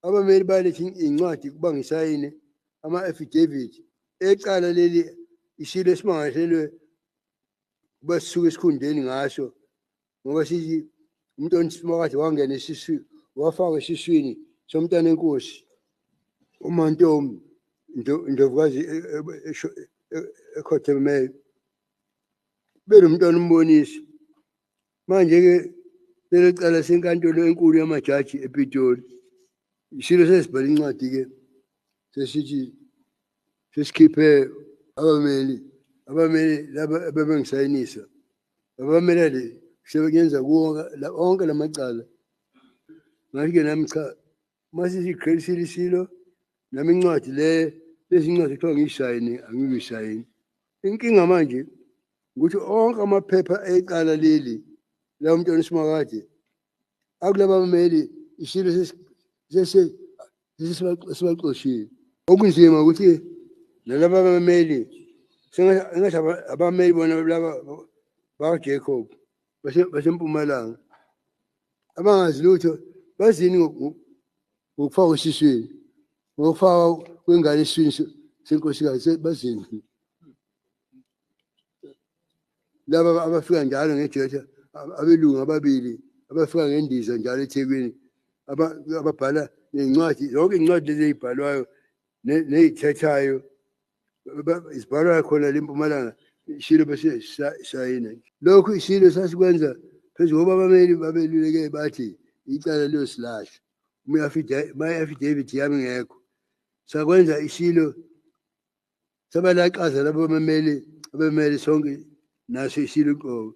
abameli balethe incwadi ukuba ngisayine ama-affidavit ecala leli isilo esimangaselwe kuba sisuke esikhundeni ngaso ngoba sithi umuntu onisimakathi wangena esisu wafaka esiswini somntana enkosi umantomi indovukazi e, e, e, ekhothemele benomntwana umbonisi Manje-ke leli cala senkantolo enkulu yamajaji ePitoli. Isilo sesibhale incwadi-ke sesithi sesikhiphe abameli abameli laba abebengisayinisa abamela le sebengenza kuwo onke la macala ngathi-ke nami cha uma sesiqhelisile isilo nami incwadi le lezi incwadi kuthiwa ngiyishayini angiyishayini inkinga manje ukuthi onke amaphepha ecala leli la umntwana usimakade akulaba bameli isilo sesibaxoshile okunzima ukuthi nalaba bameli sengathi abameli bona laba bakajacob basempumalanga abangazi lutho bazini ngokufaka esiswini ngokufaka kwengane esiswini senkosikazi bazini laba abafika njalo ngejeja abelungu ababili abafika ngendiza njalo ethekwini ababhala nezincwadi yonke incwadi lezi eyibhalwayo neyithethayo isibhalwa khona le mpumalanga ishilo bese sayina lokhu ishilo sasikwenza phezu koba abameli babeluleke bathi icala liyosilahla uma i-affidavit yami ngekho sakwenza ishilo sabalaxaza labo bamameli abemele sonke naso ishilo qobo